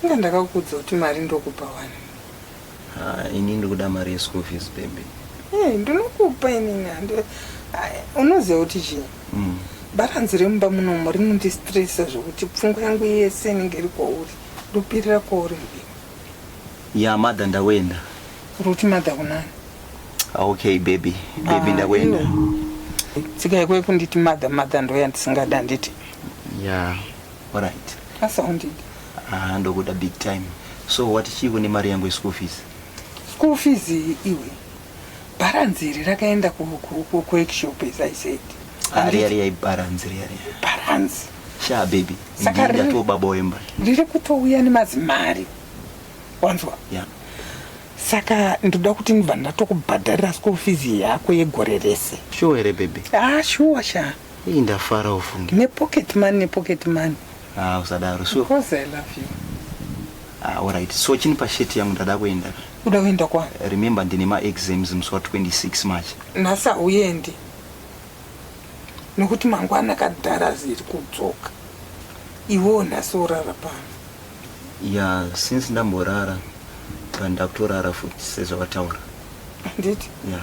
Inga ndakakuudza kuti mari ndokupa wani. Ah, ini ndikuda mari yeschool fees baby hey, eh, ndinokupa inini ah, unoziva kuti chii mm. baranzi remumba munomo rinondistresa zvokuti pfungwa yangu yese inenge iri kwauri ndopirira kwauri mbi ya madha ndakuenda ruti madha kunani ah, okay baby baby ah, ndakuenda tsika yako yekunditi madha madha ndoya ndisingada nditi ya yeah. Alright. I sounded. Ah, ndokuda big time. So wati chiiko nemari yangu yeschool fees? School fees iwe. Balance iri rakaenda ku ku ku workshop as I said. Ari ari ai balance iri ari. Balance. Sha baby. Saka ri- Ndinda to baba wemba. Riri kutouya nemazimari. Wanzwa? Yeah. Saka ndoda kuti ndibva ndatokubhadharira school fees yako yegore rese. Sure here baby? Ah, shuwa sha. Hii ndafara ufunge. Ne pocket money ne pocket money. Ah usadaro sure. Because I love you. Ah alright. So chini pa shirt yangu ndada kuenda. Uda kuenda kwa? Remember ndine ma exams musi wa 26 March. Nasa uyendi. Nokuti mangwana kadhara ziri kudzoka. Iwo nasa urara pano. Yeah, since ndamborara pandakutorara futi sezvawataura. Handiti? Yeah.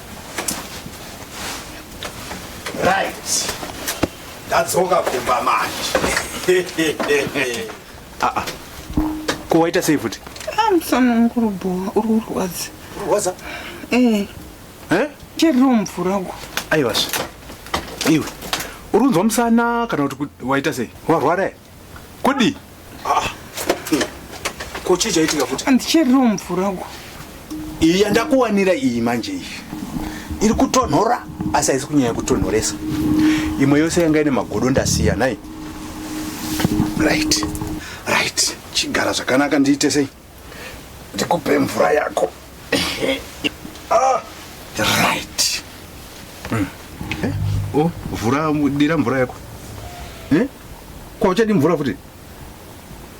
Right. Ndadzoka kumba manje. Ah ah. Ko waita sei futi? Ah, musana wangu uri bhowa, uri kurwadza. Kurwadza? Eh. Eh? Chiriwo mvura uko. Aiwa. Iwe. Uri kunzwa musana kana kuti waita sei? Warwara here? Kudi. Ah. Ko chii chaitika futi? Andicheriro mvura uko. Iyi yandakuwanira iyi manje iyi. Iri kutonhora asi haisi kunyanya kutonhoresa. Imwe yose yanga ine magodo ndasiya nhai. Right. Right. Chigara zvakanaka ndiite sei? ndikupe mvura yako ah, right mm. eh? oh, vhura dira mvura yako eh? kwauchadi mvura futi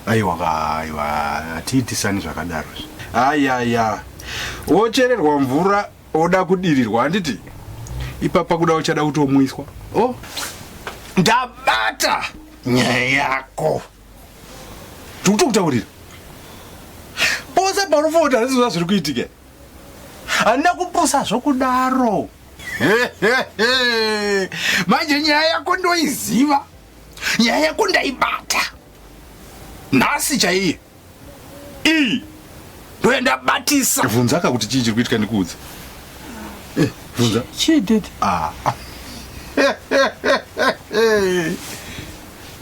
aiwa ka aiwa hatiitisani zvakadaro ayaya wochererwa mvura woda kudirirwa handiti ipapa kuda uchada kutomwiswa o oh. ndabata nyaya yako ndikutokutaurira pose paunofota handizoza zviri kuitika handina kupusa zvokudaro manje nyaya yako ndoiziva nyaya yako ndaibata nhasi chaiye iyi ndoenda batisa vhunza ka kuti chii chiri kuitika ndikuudze Eh, vhunza Chii daddy? Ah.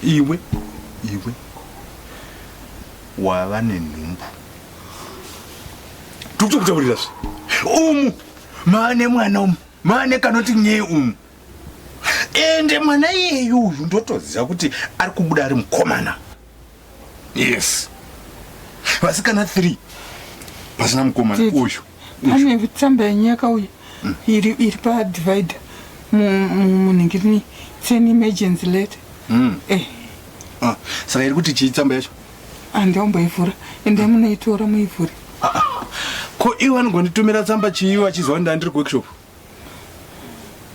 iwe iwe wava nenhumbu tikuchokutaurira zve umu maane mwana umu maane kanoti nyee umu ende mwana iyeyu uyu ndotoziva kuti ari kubuda ari mukomana yes vasikana three pasina mukomana Tete, uyu pane tsamba yenyaka uyu mm. iri, iri padivider munhingirini sen emergency late mm. eh. ah, saka iri kuti chii tsamba yacho andiomboivhura ah, ende mm. munoitora muivhure ah, ah. ko iwe anogonitumira tsamba chii vachizwa ndandiri kuworkshop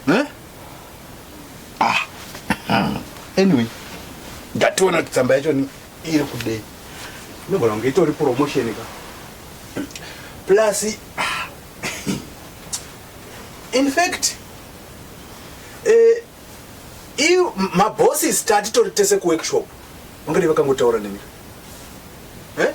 Eh? Ah. ah. Anyway, ndationa kuti tsamba yacho ni iri kudei. Nogona kunge itori promotion ka. Plus ah. in fact eh i mabossi start tori tese ku workshop. Ungade vakangotaura nemi. Eh?